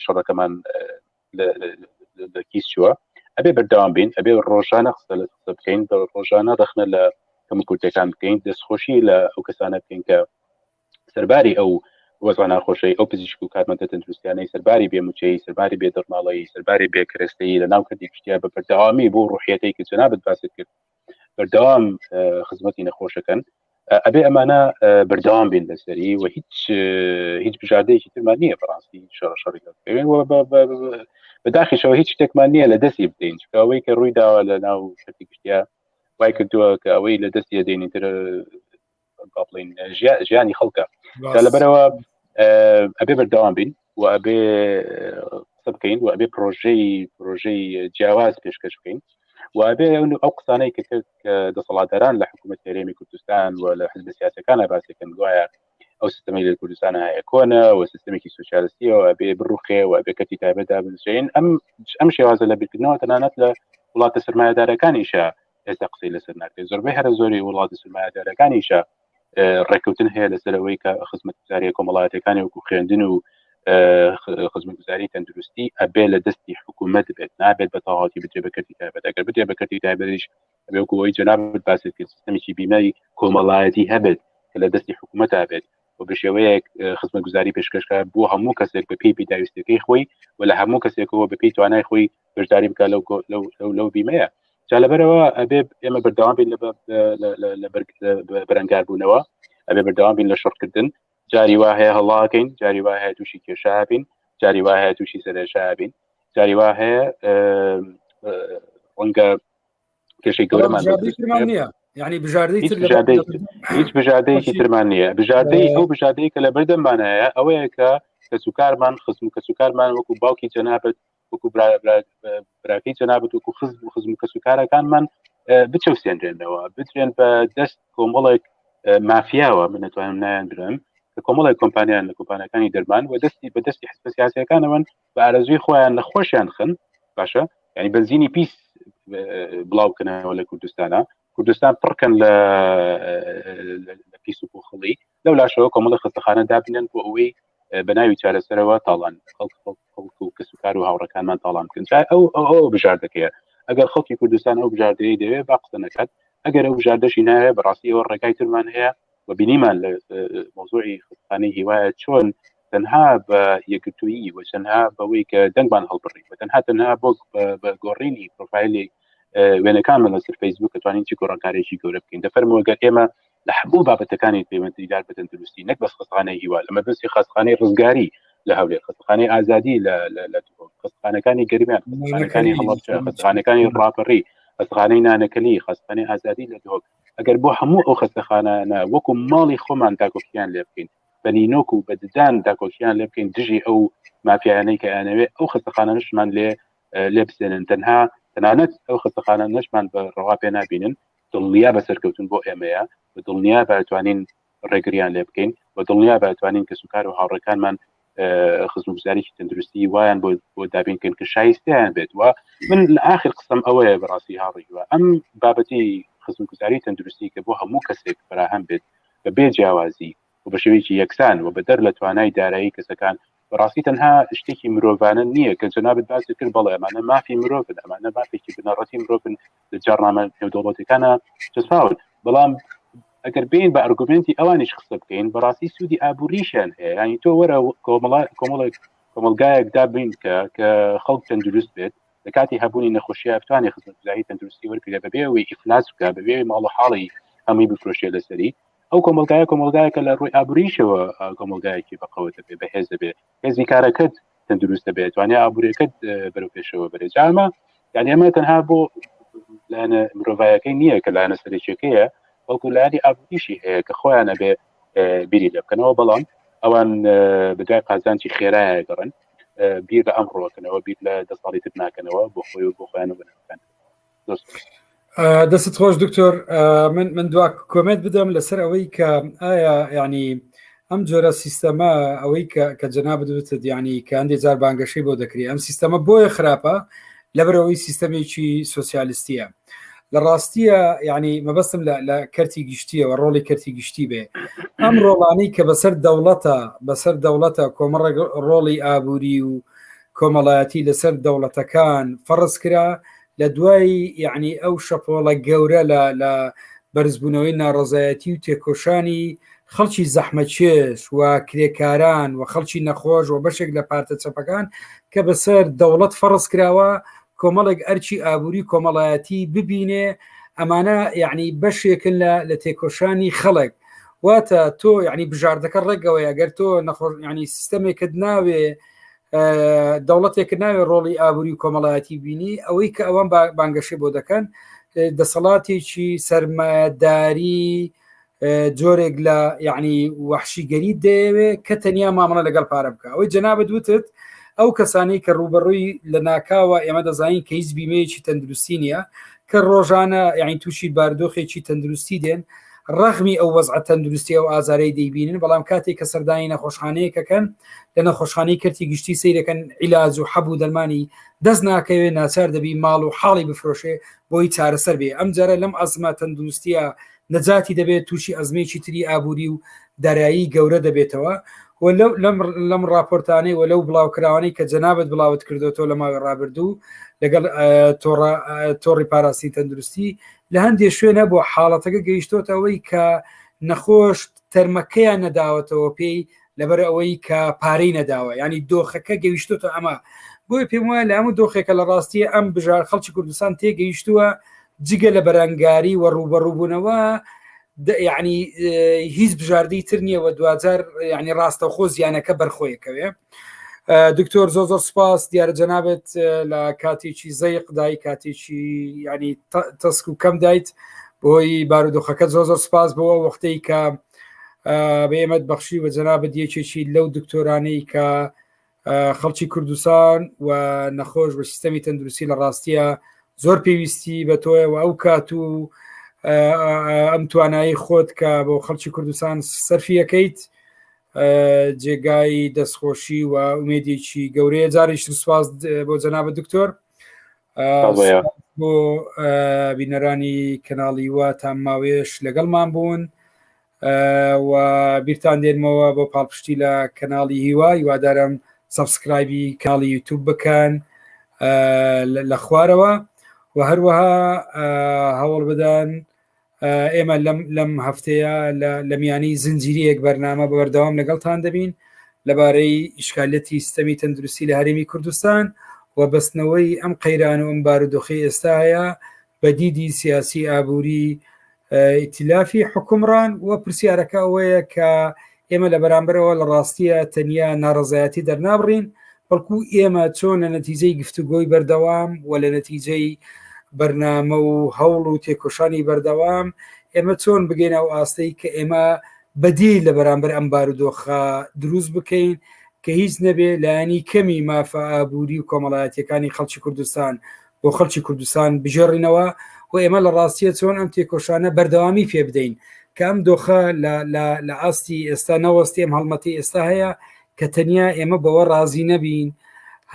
شەڕەکەمان لە کیس چووە ئەبێ بەردەوام بین ئەبێ ڕۆژانە قسە لە قسە بکەین بە ڕۆژانە ڕخنە لە کەم کورتەکان بکەین دەستخۆشی لە ئەو کەسانە بکەین کە سەرباری ئەو وەزان ناخۆشەی ئەو پزیشک و کارمەندە تەندروستیانەی سەرباری بێموچەی سەرباری بێ دەرماڵەی سەرباری بێکرێستەی لە ناو کردی کوشتیا بە بەردەوامی بۆ ڕوحەتی کە جنابەت باست کرد بەردەوام خزمەتی نەخۆشەکەن ئەبێ ئەمانە بەردەوام بین لەسەری و هیچ هیچ بژاردەیەکی ترمان نییە بەڕاستی شەڕی بەداخیشەوە هیچ شتێکمان نییە لە دەستی بدەین چکەوەی کە ڕووی داوە لە ناو شتی گشتیا وای کردووە کە ئەوەی لە دەستی دێنی تر با بڵین ژیانی خەڵکە دا لەبەرەوە ئەبێ بەردەوام بین و ئەبێ قسە بکەین و ئەبێ پرۆژەی پرۆژەی جیاواز پێشکەش بکەین و ئەبێ ئەو قسانەی کە کرد کە دەسەڵاتداران لە حکوومەت هەرێمی کوردستان و لە حزب سیاسەکان باسەکەن گوایە ئەو سیستمی لە کوردستان هەیە کۆنە و سیستمێکی سوسیالستیەوە بێ بڕوخێ و بێ کەتی تایبەتدا بنووسین ئەم ئەم شێوازە لە بیرکردنەوە تەنانەت لە وڵاتە سرمایهدارەکانیشە ئێستا قسەی لەسەر ناکرێت زۆربەی هەرە زۆری وڵاتی سرمایهدارەکانیشە ڕێککەوتن هەیە لەسەرەوەی کە خزمەتگوزاریە کۆمەڵاتەکانی وەکو خوێندن و خزمەتگوزاری تەندروستی ئەبێ لە دەستی حکوومەت بێت نابێت بە تەواتی بجێ بەکەتی تایبەت ئەگەر بجێ بەکەتی تایبەتیش بێکەوەی جەناب باسی کرد سیستمێکی بیمای کۆمەڵایەتی هەبێت کە لە دەستی حکوومەت بێت و بە شێوەیەک خزمە گوزاری پێشکەشکار بۆ هەموو کەسێک بە پێی پێداویستەکەی خۆی و لە هەموو کەسێکەوە بە پێی توانای خۆی بەشداری بکە لەو لەو لەو بیمەیە جا لەبەرەوە ئەبێ ئێمە بەردەوام بین لە بەرەنگار بوونەوە ئەبێ بەردەوام بین لە شڕکردن جاری وا هەیە هەڵاکەین جاری وا هەیە تووشی کێشا بین جاری وا هەیە تووشی سەرێشا بین جاری وا هەیە ڕەنگە کێشەی گەورەمان ینی بژاردەی هیچ بژاردەیەکی ترمان نییە بژاردەی ئەو بژاردەیە کە لە بەردەممانایە ئەوەیە کە کەس و کارمان خزم و کەس و کارمان وەکو باوکی جەنابەت وەکو براکەی جەنابەت وەکو خزم و خزم و کەس و کارەکانمان بچەوسێنرێنەوە بترێن بە دەست کۆمەڵێک مافیاوە من نتوانم نایان درم کە کۆمەڵی کۆمپانیان لە کۆمپانەکانی دەرمان و دەستی بە دەستی حسپسیاسەکانەوەن بە ئارەزوی خۆیان لە خۆشیان خن باشە ینی بەنزینی پیس بڵاوکەنەوە لە کوردستانە کوردستان پڕکەن لە پیس و پۆخڵی لەو لاشەوە کۆمەڵە خستەخانە دابنێن بۆ ئەوەی بە ناوی چارەسەرەوە تاڵان خەڵک و کەس و کار و هاوڕەکانمان تاڵان بکەن ئەو ئەو بژاردەکەیە ئەگەر خەڵکی کوردستان ئەو بژاردەیە دەوێت با قسە نەکات ئەگەر ئەو بژاردەشی ناوێت بەڕاستی ئەوە ڕێگای ترمان هەیە و بینیمان لە مۆزۆی خانەی هیوایە چۆن تەنها بە یەکگرتوویی و تەنها بەوەی کە دەنگمان هەڵبڕی و تەنها تەنها بۆ بە گۆڕینی پرۆفایلی وێنەکان من لەسەر فەیسبوک کە توانین چی گۆڕانکارێکی گەورە بکەین دەفەرمەوەگەر ئێمە لە هەموو بابەتەکانی پەیوەندیدار بە تەندروستی نەک بەس خستخانەی هیوا لە مەبستی خستخانەی ڕزگاری لە هەولێر خستخانەی ئازادی لە خستخانەکانی گەرمیان خستخانەکانی هەڵەبچە خستخانەکانی ڕاپەڕی خستخانەی نانەکەلی خستخانەی ئازادی لە دۆک ئەگەر بۆ هەموو ئەو خستەخانانە وەکو ماڵی خۆمان داگوستیان لێ بکەین بە نینۆک و بە ددان داکۆکییان لێ بکەین دژی ئەو مافیایانەی کە ئەیانەوێت ئەو خەستەخانەشمان لێ لێ بسێنن تەنها تەنانەت ئەو خەستەخانە نەشمان بە ڕەوا پێ نابینن دڵنیا بە سەرکەوتن بۆ ئێمەیە و دڵنیا بەتوانین ڕێگریان لێ بکەین و دڵنیا بەتوانین کە سوکار و هاوڕەکانمان خزمگوزاریی تەندروستی وایان بۆ بۆ دابینکەن کە شایستیان بێت وە من لە آخر قسم ئەوەیە بەڕاستی هاڕیوە ئەم بابەتی خزمگوزاری تەندروستی کە بۆ هەموو کەسێک فراهەم بێت بە بێ جیاوازی و بە شێوەیەکی یەکسان و بەدەر لە توانای دارایی کەسەکان، بەڕاستی تەنها شتێکی مرۆڤانە نییە کە جەنابت باست کرد، بەڵێ ئەمانە مافی مرۆڤن، ئەمانە مافێکی بنەڕەتی مرۆڤن لە جاڕنامە نێودەوڵەتیەکانا چەسپاون، بەڵام ئەگەر بێین بە ئەرگومێنتی ئەوانیش قسە بکەین بەڕاستی سوودی ئابووریشیان هەیە، یانی تۆ وەرە کۆمەڵ کۆمەڵێک کۆمەڵگایەک دابنکە کە خەڵک تەندروست بێت، لە کاتی هەبوونی نەخۆشیە بتوانێت خزمەتگوزاری تەندروستی وەرگرە بەبێ ئەوەی ئیفلاس بکە بەبێ ماڵ و حاڵی هەمووی بفرۆشێ لەسەری ئەو کۆمەلگایە کۆمەلگایەکە لە ڕووی ئابووریشەوە کۆمەلگایەکی بەقەوە دەبێت بە هێز دەبێت هێزی کارەکەت تەندروست دەبێت توانێت ئابوورەکەت بەرەو پێشەوە بەرێت جامە یعنی ئەمە تەنها بۆ لایەنە مرۆڤایەکەی نییە کە لایەنە سەرچێکەیە بەڵکو لایانی ئابووریشی هەیە کە خۆیانە بێ بیری لێ بکەنەوە بەڵام ئەوان بدای قازانجی خێرایە گەڕن بیر لە ئەمڕۆکەنەوە بیر لە دە ساڵی تر ناکەنەوە بۆ خۆی و بۆ خۆیان بنەکەن دەست خۆش دکتۆر من من دوا کۆمنت بدەم لەسەر ئەوەی کە ئایا ینی ئەم جۆرە سیستەمە ئەوەی کە جەنا بدوتت ینی کە هەندێک جار بانگەشەی بۆ دەکری ئەم سیستەمە بۆیە خراپە لەبەرەوەی سیستەمێکی سوسیالیستیە لە ڕاستیە ینی مەبەستم لە کەرتی گشتیەوە ڕۆڵی کەرتی گشتی بێ ئەم ڕۆڵانی کە بەسەر دەوڵەتە بەسەر دەوڵەتە کۆمەڕ ڕۆڵی ئابووری و کۆمەڵایەتی لەسەر دەوڵەتەکان فەڕز کرا لە دوای یعنی ئەو شەپۆڵە گەورە لە لە بەرزبوونەوەی ناڕزایەتی و تێکۆشانی خەڵکی زەحمەچێش و کرێکاران و خەڵکی نەخۆش و بەشێک لە پارتە چەپەکان کە بەسەر دەوڵەت فەڕز کراوە کۆمەڵێک ئەرچی ئابووری کۆمەڵایەتی ببینێ ئەمانە یعنی بەشێکن لە لە تێکۆشانی خەڵک واتە تۆ یعنی بژاردەکە ڕێکەوەی ئەگەر تۆ نەخۆش ینی سیستەمێکت ناوێ دەوڵەتێک ناوێ ڕۆڵی ئابووری و کۆمەڵایەتی بینی ئەوەی کە ئەوان بانگەشی بۆ دەکەن دەسەڵاتێکی سەرمایەداری جۆرێک لە یعنی وەحشیگەری دەیەوێ کە تەنیا مامەڵە لەگەڵ پارە بکە ئەوەی جەنابەت وتت ئەو کەسانی کە ڕوبەڕووی لە ناکاوە ئێمە دەزانین کە هیچ بیمەیەکی تەندروستی نییە کە ڕۆژانە یعنی تووشی باردۆخێکی تەندروستی دێن ڕەغمی ئەو وەزع تەندروستی ئەو ئازارەی دەیبینن بەڵام کاتێک کە سەردانی نەخۆشخانەیەکەکەن لە نەخۆشخانی کەرتی گشتی سیرەکەن عیلاج و حەبوو دەرمانی دەست ناکەوێ ناچار دەبی ماڵ و حاڵی بفرۆشێ بۆی چارەسەر بێ ئەم جارە لەم ئەزمە تەندروستیە نەجاتی دەبێت تووشی ئەزمەیەکی تری ئابووری و دارایی گەورە دەبێتەوە لەم راپۆرتانەی وە لەو بڵاوکراوانەی کە جەنابەت بڵاوت کردوەوە لە ماوەی رابردوو لەگەڵ تۆڕی پاراستی تەندروستی لە هەندێک شوێنە بۆ حاڵەتەکە گەیشتۆتەوەی کە نەخۆشت تەرمەکەیان نەداوەتەوە پێی لەبەر ئەوەی کە پارەی نەداوە ینی دۆخەکە گەیشتۆتە ئەمە بۆی پێم وایە لە هەموو دۆخێکە لە ڕاستیە ئەم بژار خەڵکی کوردستان تێگەیشتووە جگە لە بەرەنگاری وە ڕوبەڕووبوونەوە یعنی هیچ بژاردەی تر نییە و دوجار ینی ڕاستەخۆ زیانەکە بەرخۆیەکەوێ دکتۆر زۆ زۆر سپاس دیارە جەنابێت لە کاتێکی زەیق دای کاتێکی ینی تەسک و کەم دایت بۆی بارودۆخەکە زۆ زۆر سپاس بۆ وەختەی کە بە ئێمەت بەخشی و جەنابەت یەکێکی لەو دکتۆرانەی کە خەڵکی کوردستان و نەخۆش بە سیستەمی تەندروستی لە ڕاستیە زۆر پێویستی بە تۆیەوە ئەو کات و ئەم توانایی خۆت کە بۆ خەڵکی کوردستان سەرفیەکەیت جێگای دەستخۆشی و ئومێدێکی گەورەیە جاریش سوپاس بۆ جەنابە دکتۆر بۆ بینەرانی کەناڵی وە تا ماوێش لەگەڵمان بوون و بیرتان دێنمەوە بۆ پاڵپشتی لە کەناڵی هیوا هیوادارم سبسکرایبی کاڵی یوتوب بکەن لە خوارەوە و هەروەها هەوڵ بدەن ئێمە لەم لەم هەفتەیە لە میانی زنجیریەک بەرنامە بە بەردەوام لەگەڵتان دەبین لەبارەی ئیشکالەتی سیستەمی تەندروستی لە هەرێمی کوردستان و بەستنەوەی ئەم قەیران و ئەم بارودۆخی ئێستاە بە دیدی سیاسی ئابووری ئیتلافی حکومڕان و پرسیارەکە ئەوەیە کە ئێمە لە بەرامبەرەوە لە ڕاستیە تەنیا ناڕزایەتی دەرنابڕین بەڵکو ئێمە چۆن لە نەتیجەی گفتوگۆی بەردەوام و لە نەتیجەی بەرنامە و هەوڵ و تێکۆشانی بەردەوام ئێمە چۆن بگەین ئەو ئاستەی کە ئێمە بەدی لە بەرامبەر ئەم بارودۆخە دروست بکەین کە هیچ نەبێ لایەنی کەمی مافە ئابووری و کۆمەڵایەتەکانی خەڵکی کوردستان بۆ خەڵکی کوردستان بژێڕینەوە و ئێمە لە ڕاستیە چۆن ئەم تێکۆشانە بەردەوامی پێ بدەین کە ئەم دۆخە لە ئاستی ئێستا نەوەستی ئەم هەڵمەتی ئێستا هەیە کە تەنیا ئێمە بەوە ڕازی نەبین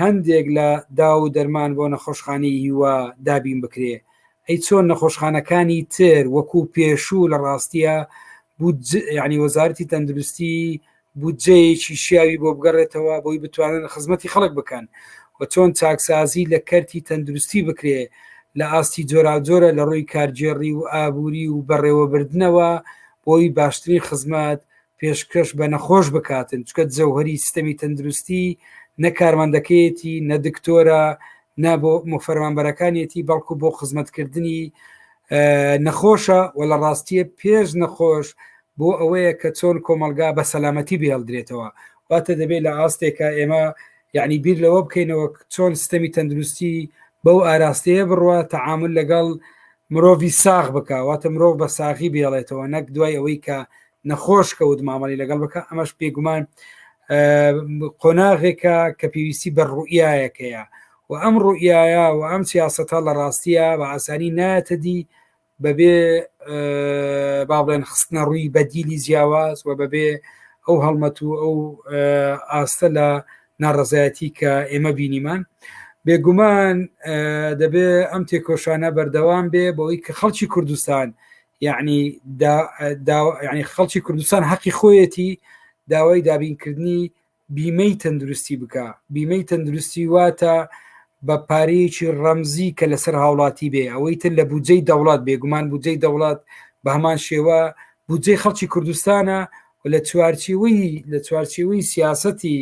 هەندێک لە داو و دەرمان بۆ نەخۆشخانی هیوا دابین بکرێ ئەی چۆن نەخۆشخانەکانی تر وەکو پێشوو لە ڕاستیە بوو ینی وەزارتی تەندروستی بودجەیەکی شیاوی بۆ بگەڕێتەوە بۆی بتوانن خزمەتی خەڵک بکەن و چۆن چاکسازی لە کەرتی تەندروستی بکرێ لە ئاستی جۆراوجۆرە لە ڕووی کارگێڕی و ئابووری و بەڕێوەبردنەوە بۆی باشترین خزمەت پێشکەش بە نەخۆش بکاتن چکە جەوهری سیستەمی تەندروستی نە کارمەندەکەیەتی نە دکتۆرە نە بۆ مفەرمانبەرەکانیەتی بەڵکو بۆ خزمەتکردنی نەخۆشە و لە ڕاستیە پێش نەخۆش بۆ ئەوەیە کە چۆن کۆمەڵگا بە سەلامەتی بهێڵدرێتەوە، واتە دەبێت لە ئاستێکا ئێمە یەعنی بیر لەوە بکەینەوە چۆن ستەمی تەندروستی بەو ئاراستەیە بڕوە تەعامل لەگەڵ مرۆڤی ساغ بکە، واتە مرۆڤ بە ساغی بێڵێتەوە نەک دوای ئەوەی کە نەخۆش کەوت مامەڵی لەگەڵ بکە ئەمەش پێگومان قۆناغێکە کە پێویستی بە ڕوئایەکەیە و ئەم ڕوئایە و ئەم سیاستە لە ڕاستیە بە ئاسانی نایەتە دی بەبێ باڵێن خستنە ڕووی بەدیلی جیاواز و بەبێ ئەو هەڵمەت و ئەو ئاستە لە ناڕزایەتی کە ئێمە بینیمان بێگومان دەبێ ئەم تێکۆشانە بەردەوام بێ بەوەی کە خەڵکی کوردستان یعنی ینی خەڵکی کوردستان حەقی خۆیەتی داوای دابینکردنی بیمەی تەندروستی بکا بیمەی تەندروستی واتە بە پارەیەکی ڕەمزی کە لەسەر هاوڵاتی بێ ئەوەی تر لە بودجەی دەوڵات بێگومان بودجەی دەوڵات بە هەمان شێوە بودجەی خەڵکی کوردستانە و لە چوارچیوەی لە چوارچیوەی سیاستی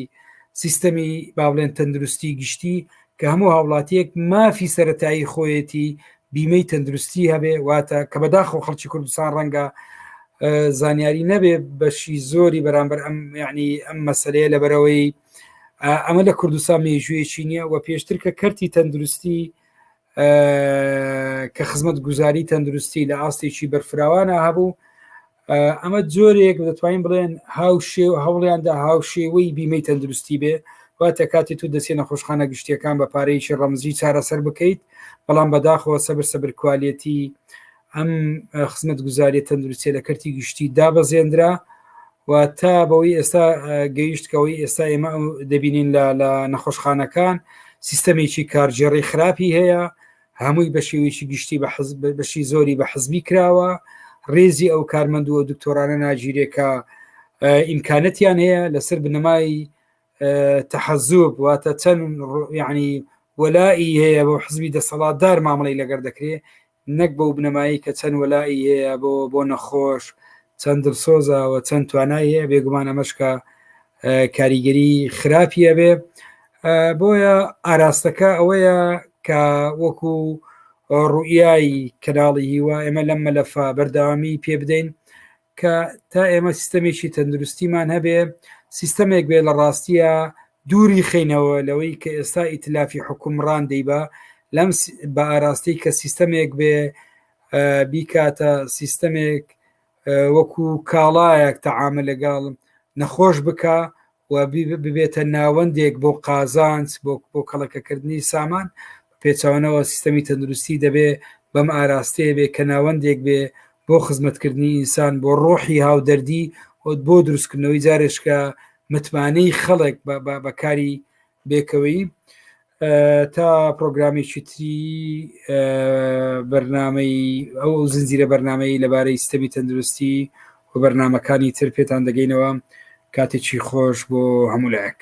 سیستەمی باڵێن تەندروستی گشتی کە هەموو هاوڵاتیەک مافی سەتایی خۆیەتی بیمەی تەندروستی هەبێ واتە کە بەداخۆ خەڵکی کوردستان ڕەنگە زانیاری نەبێ بەشی زۆری بەرامبەر ئەم یعنی ئەم مەسلەیە لە بەرەوەی ئەمە لە کوردستان مێژوویەکی نییە و پێشتر کە کەرتی تەندروستی کە خزمەت گوزاری تەندروستی لە ئاستێکی بەرفراوانە هەبوو ئەمە جۆرێک دەتوانین بڵێن هاوشێ و هەوڵیاندا هاوشێوەی بیمەی تەندروستی بێ واتە کاتی تو دەچێت نەخۆشخانە گشتیەکان بە پارەیەکی ڕەمزی چارەسەر بکەیت بەڵام بەداخەوە سەبر سەبر کوالەتی ئەم خزمەت گوزاریە تەندروستیە لە کەرتی گشتی دابەزێنرا و تا بەوەی ئێستا گەیشتکەوەی ئێستا ئێمە دەبینین لە نەخۆشخانەکان سیستەمێکی کارگێڕی خراپی هەیە هەمووی بە شێوەیەکی گشتی بە حزب بەشی زۆری بە حزبی کراوە ڕێزی ئەو کارمەندووە دکتۆرانە ناگیرێکە ئیمکانەتیان هەیە لەسەر بنەمای تەحەزوب واتە چەند یعنی وەلائی هەیە بۆ حزبی دەسەڵاتدار مامەڵی لەگەر دەکرێت نەک بەو بنەمایی کە چەند وەلائی هەیە بۆ بۆ نەخۆش چەند دڵسۆزەوە چەند توانای هەیە بێگومان ئەمەشکە کاریگەری خراپیە بێ بۆیە ئاراستەکە ئەوەیە کە وەکو ڕوئایی کەناڵی هیوا ئێمە لەم مەلەفا بەرداوامی پێ بدەین کە تا ئێمە سیستەمێکی تەندروستیمان هەبێ سیستەمێک بێ لە ڕاستیە دووری خینەوە لەوەی کە ئێستا ئیتلافی حکومڕان دەیبا لەم بە ئاراستەی کە سیستەمێک بێ بیکاتە سیستەمێک وەکو کاڵایەک تەعامە لەگەڵ نەخۆش بکە و ببێتە ناوەندێک بۆ قازانج بۆ بۆ کەڵەکەکردنی سامان پێچوانەوە سیستەمی تەندروستی دەبێ بەم ئاراستەیە بێ کە ناوەندێک بێ بۆ خزمەتکردنی ئینسان بۆ ڕۆحی هاودەردی بۆ دروستکردنەوەی جارێشکە متمانەی خەڵک بەکاری بێکەوەی تا پرۆگرامێکی تری بەرنمەی ئەو زنجیرە بەرنمەی لەبارەی ستەمی تەندروستی و بەرنمەکانی تر پێتان دەگەینەوە کاتێکی خۆش بۆ هەموو لایەک.